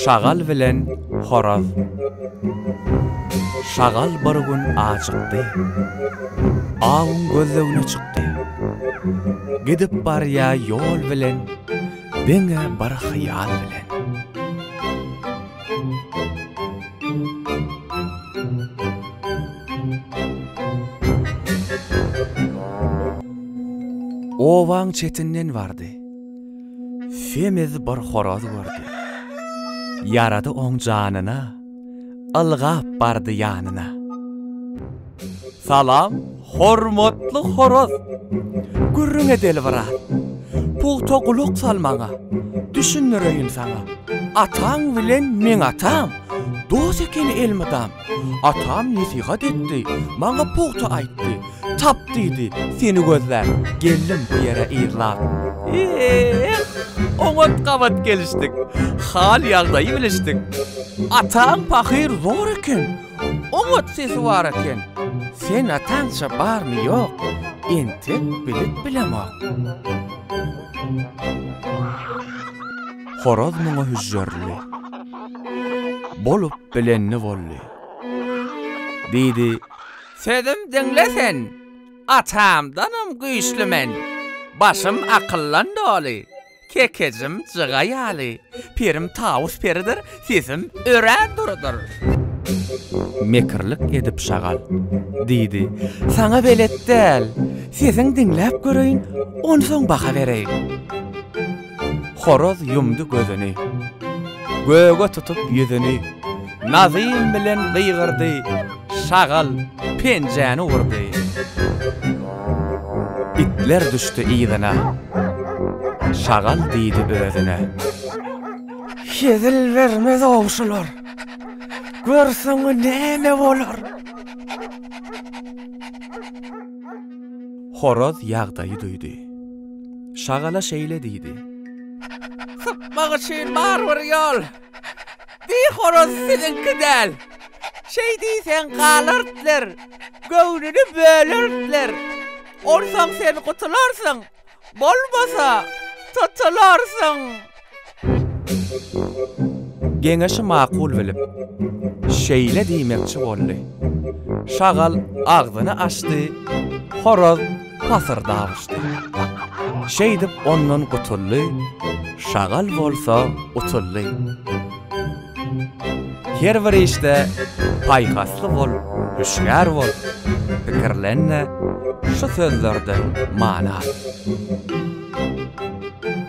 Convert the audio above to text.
Şagal bilen horaz. Şagal bir gün ajykdy. Awuň gözlegine çykdy. Gidip barýa ýol bilen, diňe bir hyýal bilen. Obaň çetinden bardy. Semiz bir horaz gördi. Ýarady oň janyna, Ylgap bardy ýanyna. Salam, hormatly horaz! Gürrüň edeli biraz. Pugta gulak sal maňa, Düşündireýin saňa. Ataň bilen meň atam, Dost ekeni elmydam. Atam nesihat etdi, maňa pugta aýtdy, Tap diýdi, seni gözläp, geldim bu ýere yzlap. Eh, oňat gabat gelişdik, hal-ýagdaýy bilişdik. Ataň pahyr zor eken, oňat sesi bar eken. Sen ataňça barmy-ýok, entek bilip bilemok. Horaz muňa hüžžürli. Bolup bilenni bolly. Diýdi, Sözüm diňle sen, atamdanam güýçli men. Başym akyldan doly, kekejim jyga ýaly. Pirim Tawus peridir, sesim örän durudyr. Mekirlik edip şagal. Diýdi, Saňa belet däl. Sesiň diňläp göreýin, onsoň baha bereýin. Horaz ýumdy gözüni. Göge tutup ýüzüni, Nazym bilen gygyrdy, Şagal penjäni urdy. Itler düşdi yzyna. Şagal diýdi özüne. Hezil bermez-ow şular. Gör soňy näme bolar. Horaz ýagdaýy duýdy. Şagala şeýle diýdi. Sypmak üçin bar bir ýol. Bi horaz siziňki däl. Şeý diýseň galartler, göwnüni bölertler. Onsoň sen gutularsyň, bolmasa, tutularsyň. Geňeşi makul bilip, şeýle diýmekçi boldy. Şagal agzyny açdy, horaz pasyrdap uçdy. Şeýdip ondan gutuldy, şagal bolsa utuldy. Her bir işde paýhasly bol, hüşgär bol, pikirlen-de, şu sözlerden many al.